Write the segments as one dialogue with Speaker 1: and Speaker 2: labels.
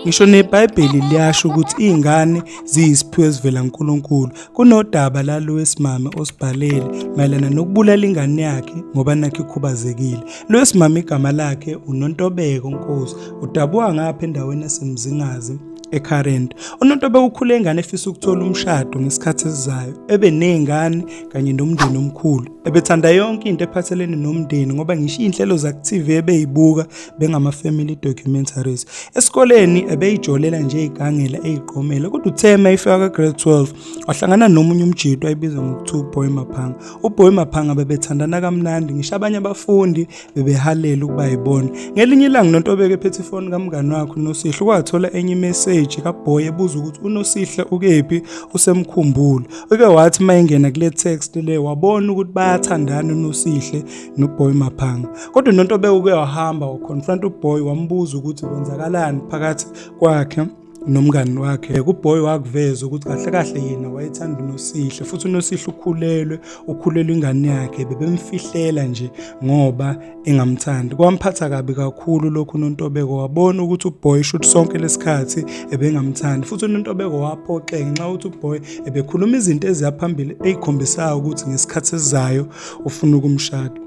Speaker 1: Ngisho neBhayibheli liyasho ukuthi izingane ziyisiphiwo esivela kuNkulunkulu. Kunodaba lalo wesimame osibhalele mayelana nokubulala ingane yakhe ngoba nakhe ikhubazekile. Lo wesimame igama lakhe uNontobeko Nkosi, udabuka ngapha endaweni yaseMzingazi eCurrent. UNontobe ukhule ingane efisa ukuthola umshado ngesikhathi esizayo, ebe nezingane kanye nomndeni omkhulu. Ebethanda yonke into ephathelene nomndeni ngoba ngisho izinhlelo zaku-TV ebeyibuka bengama-family documentaries esikoleni ebeyijolela nje igangela eyiqomela kodwa uthe uma ifika ka-grade 12 wahlangana nomunye umjito ayibizwa ngokuthiwa uboy maphanga uboy maphanga bebethandana kamnandi ngisho abanye abafundi bebehalela ukuba yibona ngelinye ilanga nonto obeke phethe ifoni kamngani wakhe unosihle kwathola enye imeseji kaboy ebuza ukuthi unosihle ukephi usemkhumbulo uke wathi uma engena kule text le wabona ukuthi bayathandana unosihle noboy maphanga kodwa nonto bewuke wahamba waconfront uboy wambuza ukuthi kwenzakalani phakathi kwakhe nomngani wakhe kuboy wakuveza ukuthi kahle kahle yena wayethanda unosihle futhi unosihle ukhulelwe ukhulelwe ingane yakhe bebemfihlela nje ngoba engamthandi kwamphatha kabi kakhulu lokhu unontobeko wabona ukuthi uboy shoot sonke lesikhathi ebengamthandi futhi unontobeko waphoxeka ngenxa ukuthi uboy ebekhuluma izinto eziyaphambili ezikhombisayo ukuthi ngesikhathi esizayo ufuna ukumshada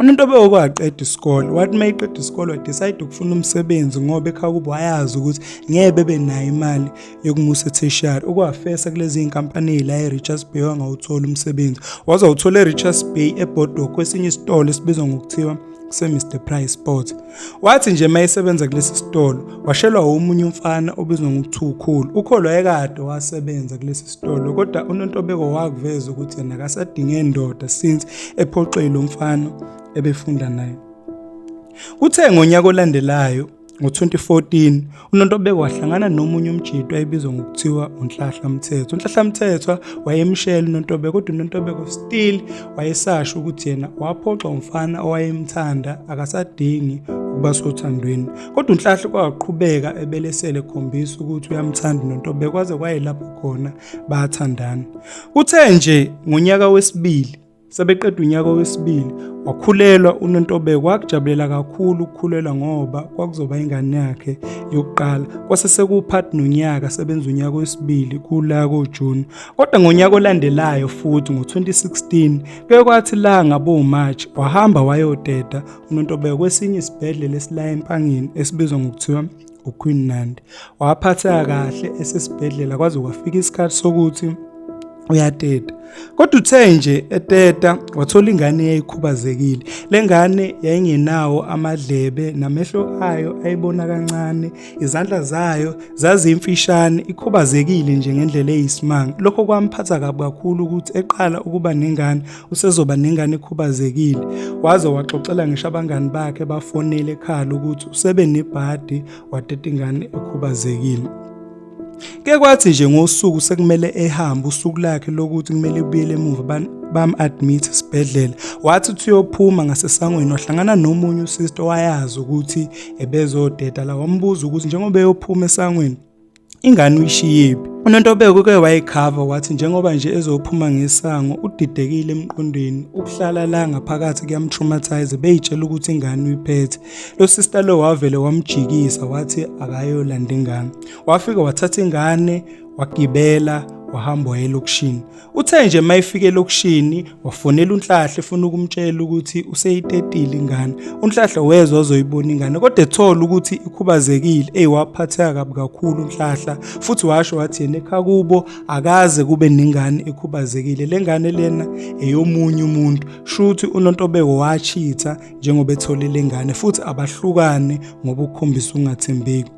Speaker 1: umuntu obewokwaqeda isikole wathi uma iqeda isikole wadecide ukufuna umsebenzi ngoba ekhaya kubo wayazi ukuthi ngeke bebe nayo imali yokumusa etheshiyari ukwafesa kulezi iy'nkampani ey'la e-richards bay wangawuthola umsebenzi wazawuthola e-richards bay ebhodokwe esinye isitolo esibizwa ngokuthiwa kusemr price sport Wathi nje mayesebenza kulesi sitolo washelwa omunye umfana obizwa ngokuthiwa ukhulu. Ukhulu wayekade wasebenza kulesi sitolo kodwa uNontobeko wakuveza ukuthi yena akasadinge ndoda since ephoxile lo mfana ebefunda naye. Kuthe ngonyaka olandelayo ngo-2014 uNontobeko wahlangana nomunye umjitwa ebizwa ngokuthiwa unhlahla mthethwa unhlahla mthethwa wayemshela uNontobeko kodwa uNontobeko still wayesasho ukuthi yena waphoxa umfana owayemthanda akasadingi ukuba sothandweni kodwa unhlahla kwaqhubeka ebelesele khombisa ukuthi uyamthanda uNontobeko kwaze kwayelapho khona bathandana kuthe nje ngonyaka wesibili Sebeqeda unyaka wesibili wakhulelwa uNontobeko wakujabulela kakhulu ukukhulelwa ngoba kwakuzoba ingane yakhe yokuqala kwase sekuwupart nonyaka sebenza unyaka wesibili kula koJune kodwa ngonyaka olandelayo futhi ngo-2016 kuye kwathi la ngaboMarch wahamba wayoteta uNontobeko kwesinye isibhedlela esila eMpangeni esibizwa ngokuthiwa uQueen Nandi waphatheka kahle esesibhedlela kwaze kwafika isikhathi sokuthi uyateta kodwa uthe nje eteta wathola ingane eyayikhubazekile le ngane yayingenawo amadlebe namehlo ayo ayibona kancane izandla zayo zazimfishane ikhubazekile nje ngendlela eyisimanga lokho kwamphatha kabi kakhulu ukuthi eqala ukuba nengane usezoba nengane ekhubazekile waze waxoxela ngisho abangani bakhe bafonele ekhala ukuthi usebe nebhadi wateta ingane ekhubazekile ke kwathi nje ngosuku sekumele ehambe usuku lakhe lokuthi kumele ebuyele emuva bam-admit esibhedlela wathi uthi uyophuma ngasesangweni wahlangana nomunye usister owayazi ukuthi ebezodeda la wambuza ukuthi njengoba eyophuma esangweni ingane uyishiyephi unontobeko uke wayikhava wathi njengoba nje ezophuma ngesango udidekile emqondweni ukuhlala la ngaphakathi kuyamtraumatise beyitshela ukuthi ingane uyiphethe lo sister lo wavele wamjikisa wathi akayolanda ingane wafika wathatha ingane wagibela wahamba wayelokishini Uthe nje mayifike elokishini wafonela uNhlahle efuna ukumtshela ukuthi useyitetile ingane. UNhlahle wezwa ozoyibona ingane kodwa ethola ukuthi ikhubazekile eyiwaphatheka kabi kakhulu uNhlahla futhi washo wathi yena ekhaya kubo akaze kube nengane ekhubazekile. Le ngane lena eyomunye umuntu. Shuthi uNontobeko wachitha njengoba ethole le ngane futhi abahlukane ngoba ukukhombisa ungathembeki.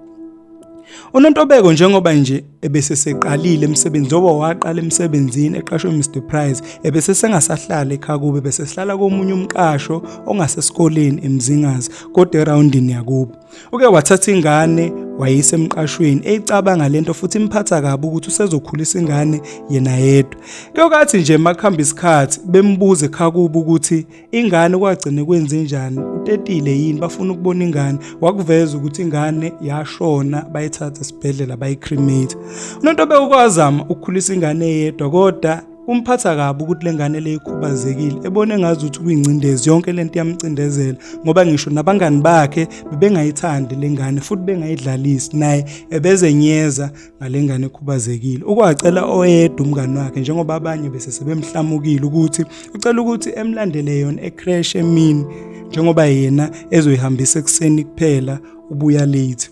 Speaker 1: unontobeko njengoba nje ebeseseqalile emsebenzi njengoba waqala emsebenzini eqashwe Mr Price ebesesengasahlala ekhaya kube besehlala komunye umqasho ongasesikoleni emzingazi kodwa eroundini yakubo uke wathatha ingane wayise emqashweni eyicabanga lento futhi imphatha kabi ukuthi usezokhulisa ingane yena yedwa kuyokathi nje makuhamba isikhathi bembuze ekhaya kubo ukuthi ingane kwagcine kwenzenjani utetile yini bafuna ukubona ingane wakuveza ukuthi ingane yashona bayithatha esibhedlela bayicremate unonto bewukwazama ukukhulisa ingane eyedwa kodwa kumphatha kabi ukuthi lengane le ikhubazekile ebone ngazi ukuthi kuyingcindezi yonke lento iyamcindezela ngoba ngisho nabangani bakhe bebengayithandi lengane futhi bengayidlalisi naye ebezenyeza ngalengane ekhubazekile ukwacela oyedwa umngane wakhe njengoba abanye bese sebemhlamukile ukuthi ucela ukuthi emlandele yona ecrash emini njengoba yena ezoyihambisa ekuseni kuphela ubuya late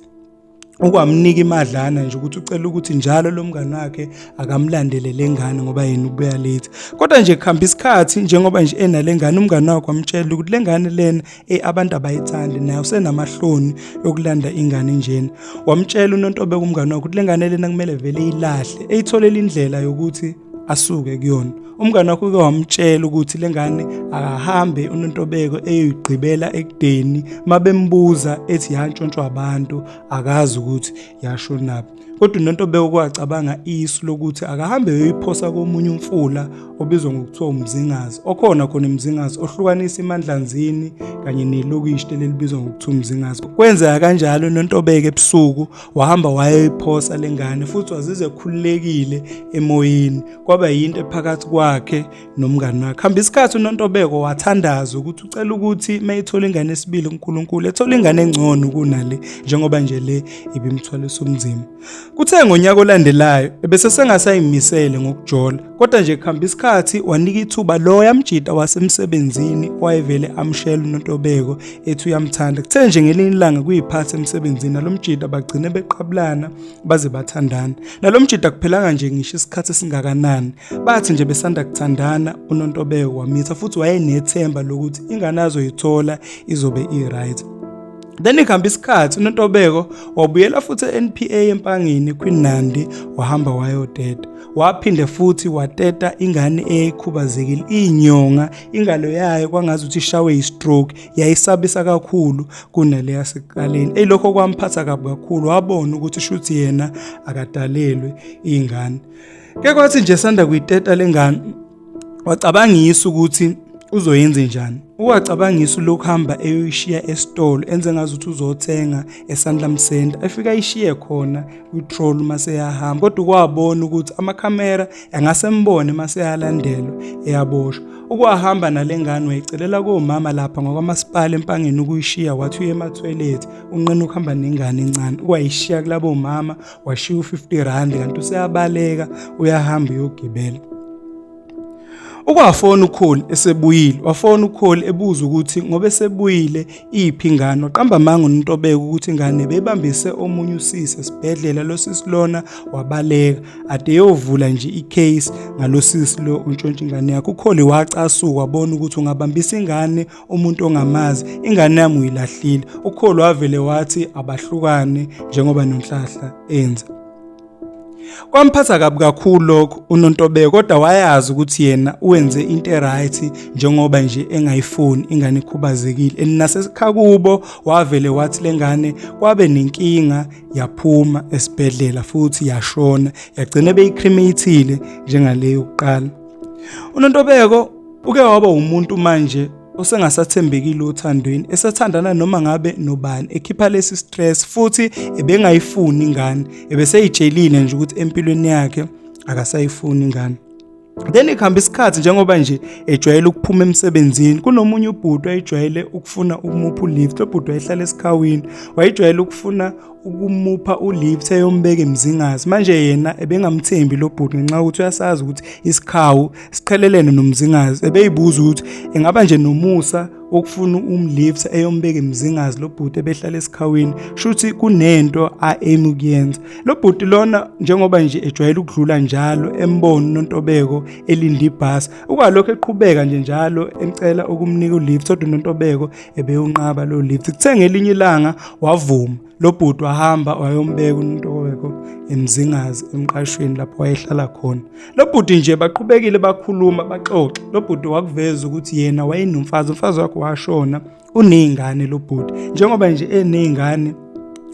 Speaker 1: ukwamnika imadlana nje ukuthi ucela ukuthi njalo lo mngane wakhe akamlandele le ngane ngoba yena ubuya late kodwa nje kuhamba isikhathi njengoba nje enale ngane umngane wakhe wamtshela ukuthi le ngane lena e abantu abayithandi naye usenamahloni yokulanda ingane njena wamtshela unontobe kumngane wakho ukuthi le ngane lena kumele vele iyilahle eyitholela indlela yokuthi asuke kuyona umngane wakho uke wamtshela ukuthi le ngane akahambe unontobeko eyoyigqibela ekudeni mabembuza ethi yantshontshwa abantu akazi ukuthi yashonaphi Kodwa uNonto bewukwacabanga isu lokuthi akahambe yoyiphosa komunye umfula obizwa ngokuthiwa uMzingazi okhona khona eMzingazi ohlukanisa iMandlanzini kanye nelokishi lelibizwa ngokuthiwa uMzingazi. Kwenzeka kanjalo uNontobeke ebusuku wahamba wayoyiphosa lengane futhi wazize ekhululekile emoyeni kwaba yinto ephakathi kwakhe nomngani wakhe hamba isikhathi unontobeko wathandaza ukuthi ucela ukuthi mayithola ingane esibili uNkulunkulu ethola ingane engcono kunale njengoba nje le ibimthwalisa umzimba kuthe ngonyaka olandelayo ebese sengasayimisele ngokujola kodwa nje kuhamba isikhathi wanika ithuba lo yamjita wasemsebenzini wayevele amshela unontobeko ethi uyamthanda kuthe nje ngelinye ilanga kuyiphatha emsebenzini nalomjita bagcine beqabulana baze bathandana nalomjita kuphelanga nje ngisho isikhathi singakanani Bathi nje besanda kuthandana uNontobeko wamitha futhi wayenethemba lokuthi ingane azoyithola izobe i-right. Then ikuhamba isikhathi uNontobeko wabuyela futhi eNPA empangini kwiNandi wahamba wayoteta. Waphinde futhi wateta ingane eyayikhubazekile inyonga ingalo yayo kwangazi ukuthi ishawe istroke yayisabisa kakhulu kunale yaseqaleni. Elokho kwamphatha kabi kakhulu wabona ukuthi shuthi yena akadalelwe ingane. ke kwathi nje sanda kuyiteta lengane wacabangisa ukuthi uzoyenze njani uwacabangisa lokhu hamba eyoyishiya esitolo enze ngazi ukuthi uzothenga esandla msenda efika ayishiye khona kwitroll uma seyahamba kodwa ukwabona ukuthi amakhamera angasembone uma seyalandelwa eyaboshwa ukwahamba nale ngane wayicelela komama lapha ngokwamasipala empangeni ukuyishiya wathi uye emathwelethi unqena ukuhamba nengane encane ukwayishiya kulabo mama washiya u-50 rand kanti useyabaleka uyahamba uyogibela ukwafona ukholi esebuyile wafona ukholi ebuza ukuthi ngoba esebuyile iphi ingane waqamba amanga uNtobeko ukuthi ingane bebambise omunye usisi esibhedlela losisi lona wabaleka ade yovula nje icase ngalosisi lo untshontsha ingane yakhe ukholi wacasuka wabona ukuthi ungabambisa ingane umuntu ongamazi ingane yami uyilahlile ukholo wavele wathi abahlukane njengoba nonhlahla enza kwamphatha kabi kakhulu lokho unontobeko kodwa wayazi ukuthi yena uwenze into eright njengoba nje engayifuni ingane ikhubazekile and nasesikhakubo wavele wathi lengane kwabe nenkinga yaphuma esibhedlela futhi yashona yagcina beyicremateile njengaleyo kuqala unontobeko Uke waba umuntu manje osengasathembekile othandweni esethandana noma ngabe nobani ekhipha lesi stress futhi ebengayifuni ingane ebeseyijelile nje ukuthi empilweni yakhe akasayifuni ingane then ekuhamba isikhathi njengoba nje ejwayele ukuphuma emsebenzini kunomunye ubhuti wayejwayele ukufuna ukumupha ulift lo bhuti wayehlala esikhawini wayejwayele ukufuna ukumupha ulive seyombeka emzingazi manje yena ebengamthembi lo bhuti ngenxa ukuthi uyasazi ukuthi isikhawu siqhelelene nomzingazi ebeyibuza ukuthi engaba nje nomusa okufuna umlifta eyombeka emzingazi lo bhuti ebehlala esikhawini shuthi kunento aim ukuyenza lo bhuti lona njengoba nje ejwayele ukudlula njalo embona uNontobeko elinda ibhasi ukwalokho eqhubeka nje njalo emcela ukumnika ulift kodwa uNontobeko ebewunqaba lo lift kuthe ngelinye ilanga wavuma lo bhuti wahamba wayombeka uNtoweko emzingazi emqashweni lapho wayehlala khona lo bhuti nje baqhubekile bakhuluma baxoxe lo bhuti wakuveza ukuthi yena wayenomfazi umfazi wakhe washona unezingane lo bhuti njengoba nje enezingane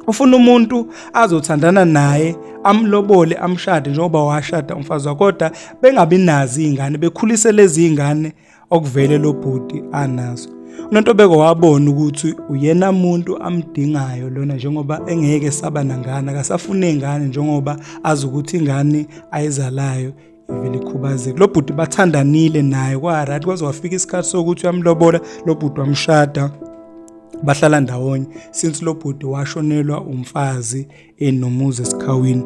Speaker 1: ufuna umuntu azothandana naye amlobole amshade njengoba washada umfazi wakhe kodwa bengabi nazi izingane bekhulise lezi zingane okuvele lo bhuti anaso unontobeko wabona ukuthi uyena muntu amdingayo lona njengoba engeke saba nangane akasafune ingane njengoba azi ukuthi ingane ayizalayo ivele ikhubazeke lo bhuti bathandanile naye kwarathi kwaze wafika isikhathi sokuthi uyamlobola lo bhuti wamshada bahlala ndawonye since lo bhuti washonelwa umfazi enomuzi esikhawini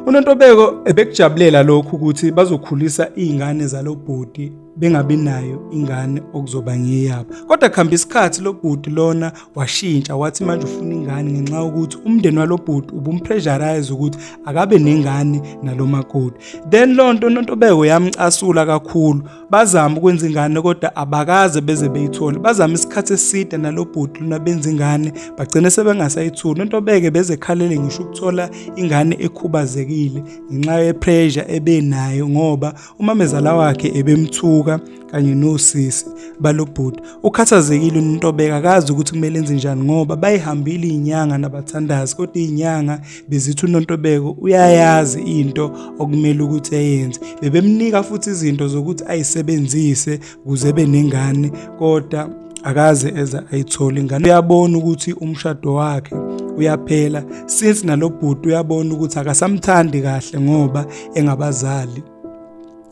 Speaker 1: unontobeko ebekujabulela lokhu ukuthi bazokhulisa izingane zalobhuti bengabi nayo ingane okuzoba ngeyabo kodwa kuhamba isikhathi lobhuti lona washintsha wathi manje ufuna ingane ngenxa yokuthi umndeni walobhuti ubumpressurize ukuthi akabe nengane nalomakoti then lonto unontobeko yamcasula kakhulu bazama ukwenza ingane kodwa abakaze beze beyithole bazama isikhathi eside nalobhuti lona benza ingane bagcine sebengasayithuli into beke bezekhalele ngisho ukuthola ingane ekhubazekile ngenxa yepressure ebenayo ngoba umamezala wakhe ebemthuka kanye nosisi balobhuti ukhathazekile uNtobeka akazi ukuthi kumele enze njani ngoba bayihambile izinyanga nabathandazi kodwa izinyanga bezithi uNontobeko uyayazi into okumele ukuthi ayenze bebemnika futhi izinto zokuthi ayisebenzise kuze benengane kodwa akaze eza ayithole ingane uyabona ukuthi umshado wakhe uyaphela since nalobhuti uyabona ukuthi akasamthandi kahle ngoba engabazali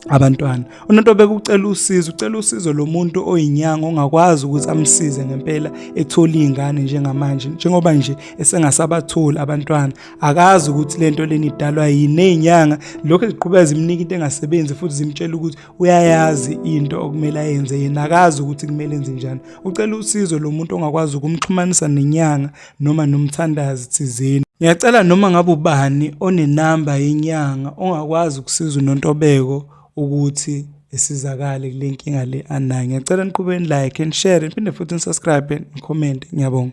Speaker 1: abantwana umuntu obekucela usizo ucela usizo lomuntu oyinyanga ongakwazi ukuthi amsize ngempela ethola izingane njengamanje njengoba nje esengasabatholi abantwana akazi ukuthi lento leni idalwa yini nezinyanga lokho eziqhubeka zimnika into engasebenzi futhi zimtshela ukuthi uyayazi into okumele ayenze yena akazi ukuthi kumele enze njani ucela usizo lomuntu ongakwazi ukumxhumanisa nenyanga noma nomthandazi thizeni. Ngiyacela noma ngabe ubani onenamba yenyanga ongakwazi ukusiza uNontobeko ukuthi esizakale kule nkinga le anayo. Ngiyacela niqhube ni-like and share niphinde futhi ni-subscribe ni-comment. Ngiyabonga.